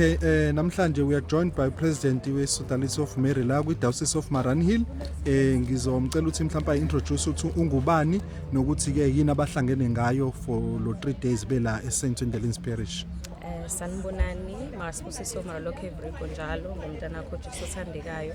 Okay, eh namhlanje we are joined by President we Sodalisi of Mary la kwi Diocese of Maranhill. Eh ngizomcela ukuthi mhlawumbe introduce ukuthi ungubani nokuthi ke yini abahlangene ngayo for lo 3 days bela e St. Ndelins Parish. Eh sanibonani, masibusiso maralokhe evriko njalo ngomntana wakho Jesu othandekayo.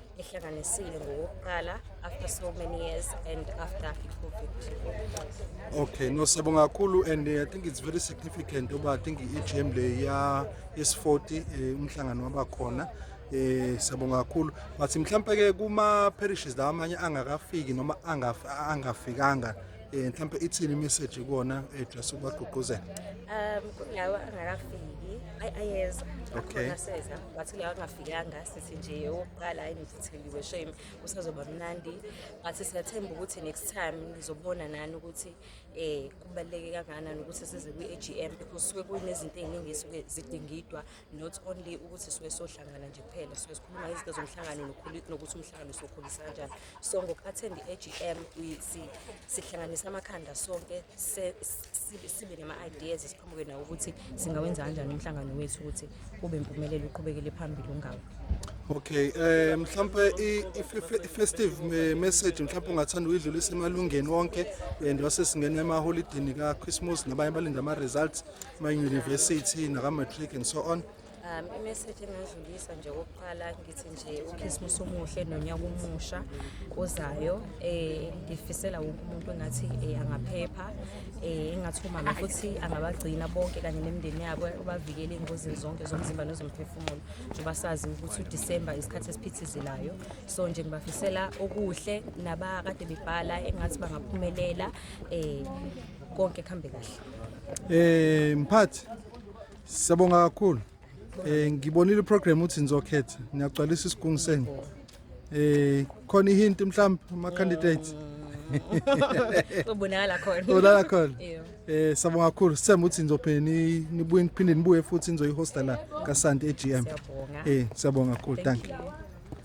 ehlanganisile ngokokuqala after so many years and after i-covid okay no siyabonga kakhulu and uh, i think it's very significant uba i think i-agm le ya yes40 eh, umhlangano waba khona eh siyabonga kakhulu but mhlawumbe ke kuma parishes la amanye angakafiki noma angafikanga eh mhlawumbe ithini message kuona eh just ubagqugquzela um kulawa angakafiki ayeza okay but kulawa yanga sithi nje owokuqala hayi ngitheliwe shame kusazoba mnandi but siyathemba ukuthi next time nizobona nani ukuthi eh kubaluleke kangakanani ukuthi size kwi-AGM because suke kunezinto eziningi esuke zidingidwa not only ukuthi suke sohlangana nje kuphela suke sikhuluma izinto zomhlangano nokuthi umhlangano sokhulisa kanjani so ngoku-attend i-AGM sihlanganisa amakhanda sonke sibe nama-ideas siqhamuke nawo ukuthi singawenza kanjani umhlangano wethu ukuthi kube impumelelo uqhubekele phambili ungawo Okay eh mhlawumbe i-festive message mhlawumbe ungathanda uyidlulisa emalungeni wonke and wase singena emaholidini ka-Christmas nabanye balinda ama-results ma-university naka-matric and so on Um, imeseji engadlulisa nje kokuqala ngithi nje ukhisimusi omuhle nonyaka omusha ozayo um eh, ngifisela wonke umuntu engathi um angaphepha um eh, engathi umama futhi angabagcina bonke kanye nemindeni yabo ubavikele ey'ngozini zonke zomzimba nezomphefumulo njengoba sazi ukuthi udisemba isikhathi esiphithizelayo so nje ngibafisela okuhle nabakade bebhala engathi bangaphumelela um konke kuhambe kahle um mphathi Siyabonga kakhulu. Eh ngibonile iprogram uthi nizokhetha. Niyagcwalisa isigungu senu. Eh khona ihint mhlawumbe ama candidates. Ubonakala khona. Ubonakala khona. Eh siyabonga kakhulu. Sithemba ukuthi nizophinde nibuye niphinde nibuye futhi nizoyihosta la kaSanti eGM. Eh siyabonga kakhulu. Thank you.